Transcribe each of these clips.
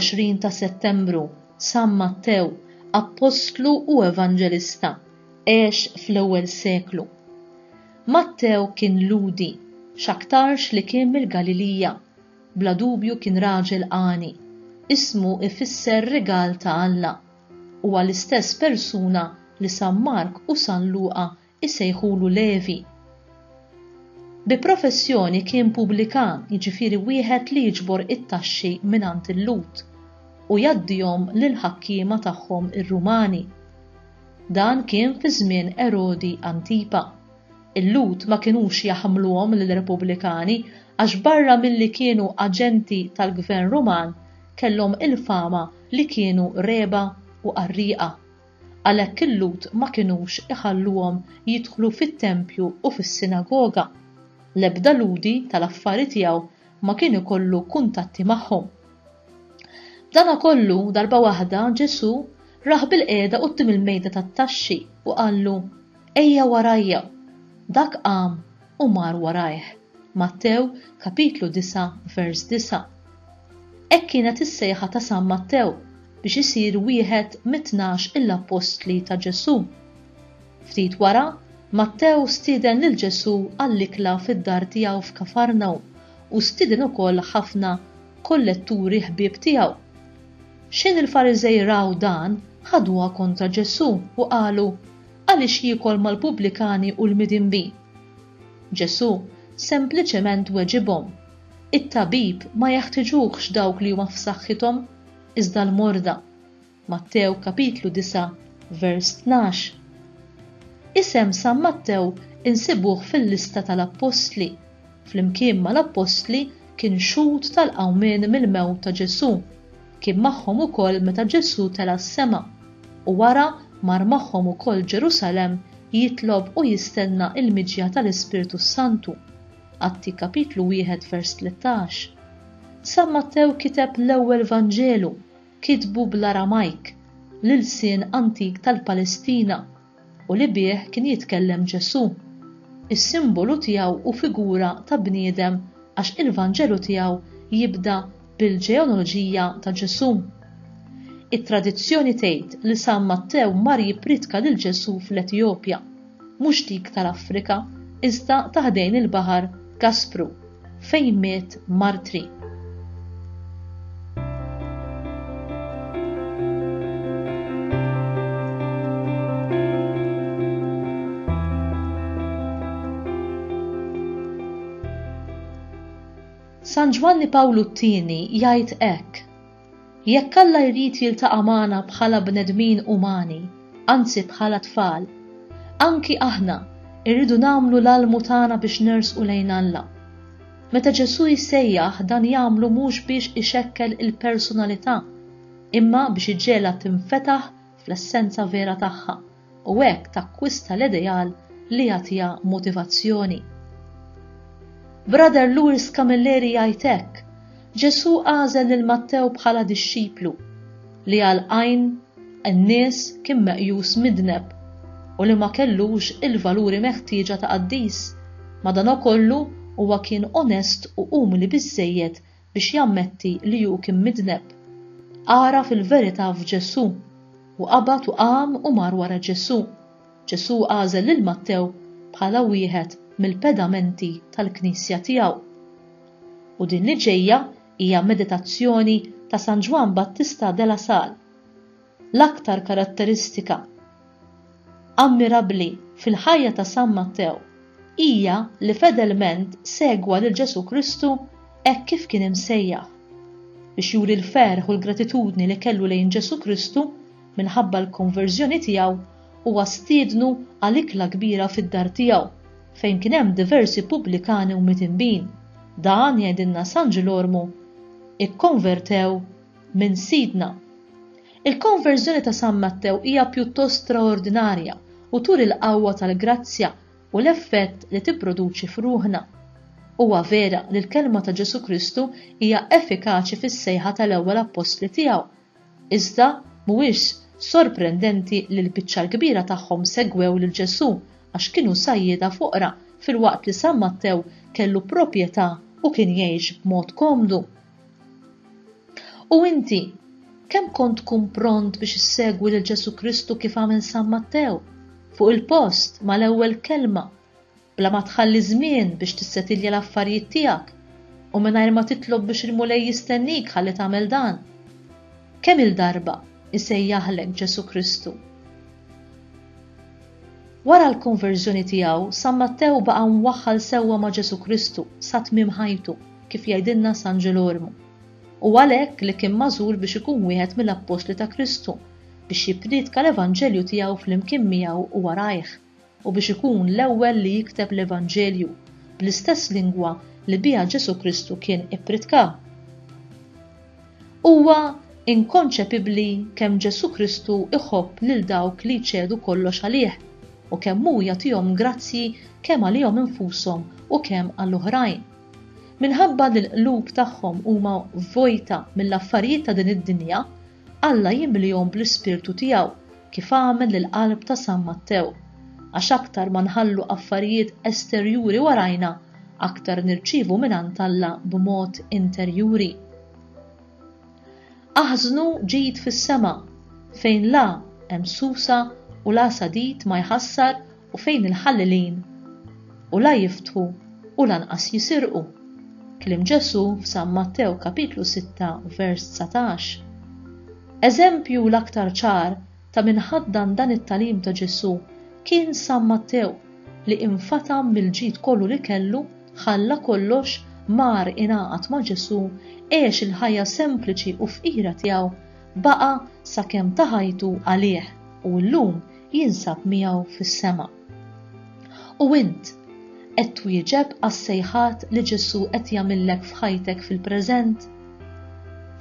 21 ta' Settembru, San Mattew, Appostlu u Evanġelista, għex fl-ewwel seklu. Mattew kien Ludi, x'aktarx li kien mill-Galilija, Bla dubju kien raġel għani. Ismu ifisser rigal ta' Alla. Huwa l-istess persuna li San Mark u San Luqa jsejħulu Levi. Bi professjoni kien pubblikan, jiġifieri wieħed li jiġbor it-taxxi mingħand il-Lhud u jgħaddihom lill-ħakkiema tagħhom ir-Rumani. Dan kien fi żmien Erodi Antipa. Il-Lhud ma kinux jaħmluhom lill-Repubblikani għax barra milli kienu aġenti tal-gvern Ruman kellhom il-fama li kienu regħba u qarrieqa. Għalhekk il-Lhud ma kinux iħalluhom jidħlu fit-tempju u fis-sinagoga. L-ebda Lhudi tal-affari tiegħu ma kien ikollu kuntatti magħhom. B'dana kollu, darba waħda Ġesù rah bilqiegħda quddiem il-mejda tat-taxxi u qallu, Ejja warajja! Dak qam u mar warajh. Mattew, kapitlu 9, vers 9. Hekk kienet is-sejħa ta' San Mattew biex isir wieħed mit-tnax il-appostli ta' Ġesù. Ftit wara, Mattew stieden lil Ġesù għall-ikla fid-dar tiegħu f'Kafarnawm u stieden ukoll ħafna kolletturi ħbieb tiegħu. Xħin il-Fariżej raw dan, ħaduha kontra Ġesù u qalu, Għaliex jiekol mal-pubblikani u l-midinbin? Ġesù sempliċement weġibhom, It-tabib ma jeħtiġuhx dawk li huma f'saħħithom, iżda l-morda. Mattew kapitlu 9 vers 12. Isem San Mattew insibuh fil-lista tal-appostli. Flimkien mal-appostli kien xhud tal-qawmien mill-mewt ta' Ġesù. Kien magħhom ukoll meta Ġesù tela' s-sema, u wara mar magħhom ukoll Ġerusalemm jitlob u jistenna l-miġja tal-Ispirtu s-Santu. Atti kapitlu wieħed vers tlettax. San Mattew kiteb l-ewwel Vanġelu, kitbu bl-Aramajk, l-ilsien antik tal-Palestina, u li bih kien jitkellem Ġesù. Is-simbolu tiegħu hu figura ta' bniedem għax il-Vanġelu tiegħu jibda bil-ġeonoloġija ta' Ġesù. It-tradizzjoni tgħid li San Mattew mar jippriedka lil Ġesù fl-Etjopja, mhux dik tal-Afrika iżda ta' ħdejn il-baħar Gaspru. fejn miet martri. San Ġwanni Pawlu t-tieni jgħid hekk Jekk Alla jrid jiltaqa' magħna bħala bnedmin umani, anzi bħala tfal, anki aħna rridu nagħmlu l-almu tagħna biex nersqu lejn Alla. Meta Ġesù jsejjaħ dan jagħmlu mhux biex ixekkel il-personalità, imma biex iġegħlha tinfetaħ fl-essenza vera tagħha. u hekk takkwista l-ideal li jagħtiha motivazzjoni. Brother Louis Camilleri jgħid hekk, Ġesù għażel lil Mattew bħala dixxiplu li għal għajn in-nies kien meqjus midneb u li ma kellux il-valuri meħtieġa ta' qaddis, madankollu huwa kien onest u umli biżżejjed biex jammetti li hu kien midneb. Għaraf il-verità f'Ġesù, u qabad u qam u mar wara Ġesù. Ġesù għażel lil Mattew bħala wieħed mill-pedamenti tal-Knisja tiegħu. U din li ġejja hija meditazzjoni ta' San Ġwann Battista de la Salle. L-aktar karatteristika ammirabbli fil-ħajja ta' San Mattew hija li fedelment segwa lil Ġesù Kristu hekk kif kien imsejjaħ. Biex juri l-ferħ u l-gratitudni li kellu lejn Ġesù Kristu minħabba l-konverżjoni tiegħu, huwa stiednu għal ikla kbira fid-dar tiegħu, fejn kien hemm diversi pubblikani u mitinbin. Dan, jgħidilna San Ġilormu, ikkonvertew minn Sidna. Il-konverżjoni ta' San Mattew hija pjuttost straordinarja u turi l-qawwa tal-grazzja u l-effett li tipproduċi f'ruħna. Huwa vera li l-kelma ta' Ġesù Kristu hija effikaċi fis-sejħa tal-ewwel appostli tiegħu, iżda mhuwiex sorprendenti li l-biċċa l-kbira tagħhom segwew lil Ġesù għax kienu sajjieda foqra filwaqt li San Mattew kellu proprjetà u kien jgħix b'mod komdu. U inti, kemm kont tkun pront biex issegwi lil Ġesu Kristu kif għamel San Mattew, fuq il-post, mal-ewwel kelma, bla ma tħalli żmien biex tissetilja l-affarijiet tiegħek u mingħajr ma titlob biex il-Mulej jistennik ħalli tagħmel dan? Kemm-il darba jsejjaħlek Ġesu Kristu? Wara l-konverżjoni tiegħu, San Mattew baqa' mwaħħal sewwa ma' Ġesu Kristu sa tmiem ħajtu. kif jgħidilna San Ġerolmu. Hu għalhekk li kien magħżul biex ikun wieħed mill-appostli ta' Kristu, biex jippriedka l-evanġelju tiegħu flimkien miegħu u warajh, u biex ikun l-ewwel li jikteb l-evanġelju bl-istess lingwa li biha Ġesù Kristu kien ippridka. Huwa inkonċepibbli kemm Ġesù Kristu jħobb lil dawk li jċedu kollox għalih u kemm hu jagħtihom grazzji kemm għalihom infushom u kemm għal oħrajn. Minħabba li l-qlub tagħhom huma vojta mill-affarijiet ta' din id-dinja, Alla jimlihom bl-ispirtu tiegħu kif għamel lill-qalb ta' San Mattew. Għax aktar ma nħallu affarijiet esterjuri warajna, aktar nirċievu mingħand Alla b'mod interjuri. Aħżnu ġid fis-sema, fejn la hemm susa u la sadid ma jħassar u fejn il-ħallilin u la jiftħu u lanqas jisirqu. Kliem Ġesù f'San Mattew kapitlu 6 vers 19. Eżempju l-aktar ċar ta' min ħaddan dan it-talim ta' Ġesù kien San Mattew li infatam mill-ġid kollu li kellu, ħalla kollox, mar ingħaqad ma' Ġesù, għex il-ħajja sempliċi u fqira tiegħu, baqa' sakemm ta ħajtu għalih u llum jinsab miegħu fis-sema. U int qed twieġeb għas-sejħat li Ġesù qed jagħmillek f'ħajtek fil-preżent?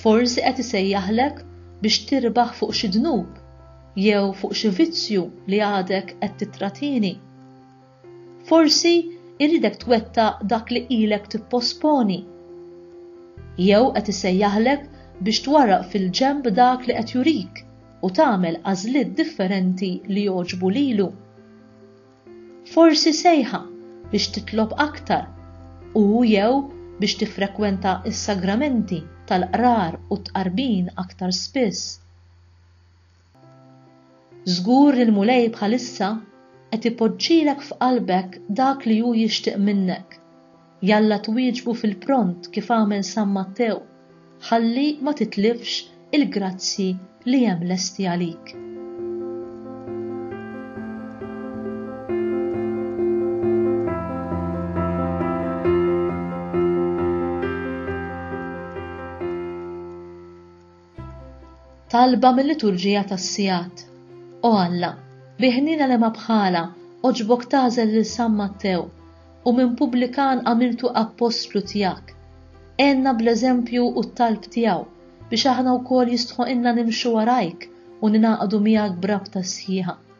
Forsi qed isejjaħlek biex tirbaħ fuq xi dnub jew fuq xi vizzju li għadek qed titratini. Forsi jridek twettaq dak li ilek tipposponi. Jew qed isejjaħlek biex twarraq fil-ġenb dak li qed jurik u tagħmel għażliet differenti li jogħġbu lilu. Forsi sejħa biex titlob aktar u jew biex tiffrekwenta s-sagramenti tal-qrar u t-tqarbin aktar spiss. Żgur li l-Mulej bħalissa qed ipoġġilek f'qalbek dak li hu jixtieq minnek. Jalla twieġbu fil-pront kif għamel San Mattew, ħalli ma titlifx il-grazzji li hemm lesti għalik. Talba mil-liturġija tas-sigħat. O Alla, bi ħniena li ma bħalha, għoġbok tagħżel lil San Mattew, u minn pubblikan għamiltu appostlu tiegħek. Għenna bl-eżempju u t-talb tiegħu, biex aħna wkoll jistħoqilna nimxu warajk u ningħaqdu miegħek b'rabta sħiħa.